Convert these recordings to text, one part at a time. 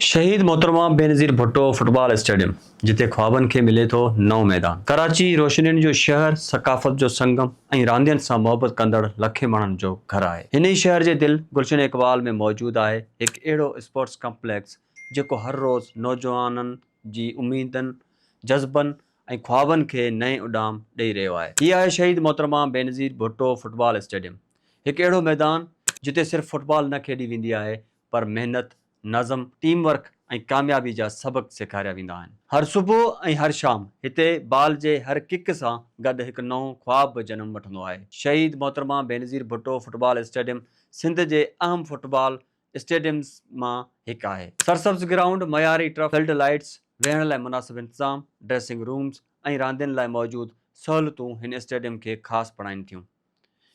شهيد محترمه Benazir Bhutto football stadium جتي خوابن کي ملي ٿو نئون ميدان، ڪراچي روشنين جو شهر، ثقافت جو سنگم ۽ راندين سان محبت ڪندڙ لکين ماڻهن جو گهر آهي. هن ئي شهر جي دل گلشن اقبال ۾ موجود آهي هڪ اهڙو اسپورٽس ڪمپليڪس جيڪو هر روز نوجوانن جي اميدن، جذبن ۽ خوابن کي نئين اڏام ڏئي رهيو آهي. هي آهي شهيد محترمه بينظير ڀٽو فٽبال اسٽيڊيم، هڪ اهڙو ميدان جتي صرف فٽبال نه کيڏي ويندي آهي پر محنت، نظم، ٽيم ورڪ ۽ ڪاميابي جا سبق سيکاريا ويندا آهن. هر صبح ۽ هر شام هتي بال جي هر ڪڪ سان گڏ هڪ نئون خواب به جنم وٺندو آهي. شهيد محترمه بينظير ڀٽو فٽبال اسٽيڊيم سنڌ جي اهم فٽبال اسٽيڊيمز مان هڪ آهي. سرسبز گرائونڊ، معياري ٽرف، فلڊ لائيٽس، ويهڻ لاء مناسب انتظام، ڊريسنگ رومز ۽ راندين لاء موجود سهولتون هن اسٽيڊيم کي خاص بڻائين ٿيون.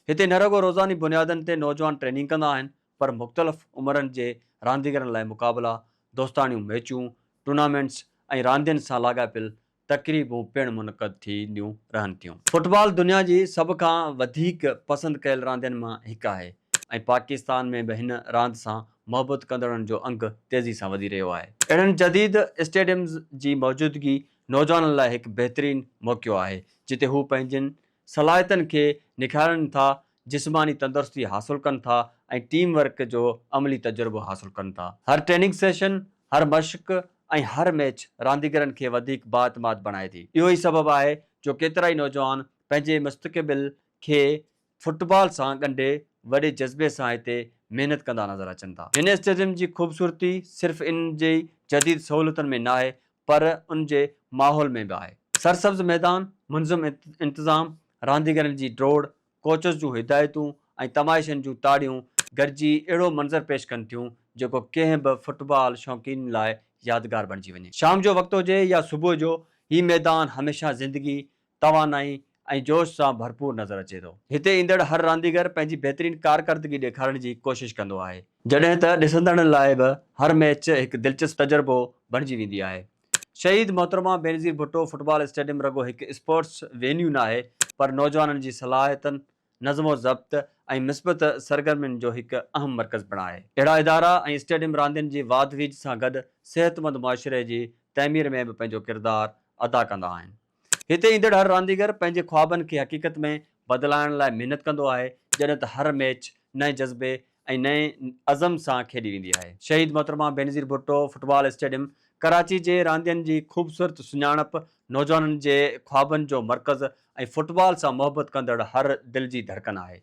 هتي نه رڳو روزاني بنيادن تي نوجوان ٽريننگ ڪندا آهن پر مختلف عمرن جي رانديگرن لاء مقابلا، دوستاڻيون ميچون، ٽورنامينٽس ۽ راندين سان لاڳاپيل تقريبون پڻ منعقد ٿينديون رهن ٿيون. فٽبال دنيا جي سڀ کان وڌيڪ پسند ڪيل راندين مان هڪ آهي ۽ پاڪستان ۾ به هن راند سان محبت ڪندڙن جو انگ تيزي سان وڌي رهيو آهي. اهڙن جديد اسٽيڊيمز جي موجودگي نوجوانن لاء هڪ بهترين موقعو آهي، جتي هو پنهنجين صلاحيتن کي نکارين ٿا، جسماني تندرستي حاصل ڪن ٿا ۽ ٽيم ورڪ جو عملي تجربو حاصل ڪن ٿا. هر ٽريننگ سيشن، هر مشق ۽ هر ميچ رانديگرن کي وڌيڪ بااعتماد بڻائي ٿي. اهو ئي سبب آهي جو ڪيترائي نوجوان پنهنجي مستقبل کي فٽبال سان ڳنڍي وڏي جذبي سان هتي محنت ڪندا نظر اچن ٿا. هن اسٽيڊيم جي خوبصورتي صرف ان جي جديد سهولتن ۾ ناهي پر ان جي ماحول ۾ به آهي. سرسبز ميدان، منظم انتظام، رانديگرن جي ڊوڙ، ڪوچز جون هدايتون ۽ تماشين جون تاڙيون گڏجي اهڙو منظر پيش ڪن ٿيون جيڪو ڪنهن به فٽبال شوقين لاء يادگار بڻجي وڃي. شام جو وقت هجي يا صبح جو، هي ميدان هميشه زندگي توانائي ۽ جوش سان ڀرپور نظر اچي ٿو. هتي ايندڙ هر رانديگر پنهنجي بهترين ڪارڪردگي ڏيکارڻ جي ڪوشش ڪندو آهي. جڏهن ته ڏسندڙن لاء به هر ميچ هڪ دلچسپ تجربو بڻجي ويندي آهي. شهيد محترمه بينظير ڀٽو فٽبال اسٽيڊيم رڳو هڪ اسپورٽس وينيو ناهي پر نوجوانن جي صلاحيتن، نظم و ضبط ۽ مثبت سرگرمين جو هڪ اهم مرڪز پڻ آهي. اهڙا ادارا ۽ اسٽيڊيم راندين جي واڌ ويجهه سان گڏ صحتمند معاشري جي تعمير ۾ به پنهنجو ڪردار ادا ڪندا آهن. هتي ايندڙ هر رانديگر پنهنجي خوابن کي حقيقت ۾ بدلائڻ لاء محنت ڪندو آهي، جڏهن ته هر ميچ نئين جذبي ۽ نئين عزم سان کيڏي ويندي آهي. شهيد محترمه بينظير ڀٽو فٽبال اسٽيڊيم ڪراچي جي راندين جي خوبصورت سڃاڻپ، نوجوانن جي خوابن جو مرڪز ۽ فٽبال سان محبت ڪندڙ هر دل جي ڌڙڪن آهي.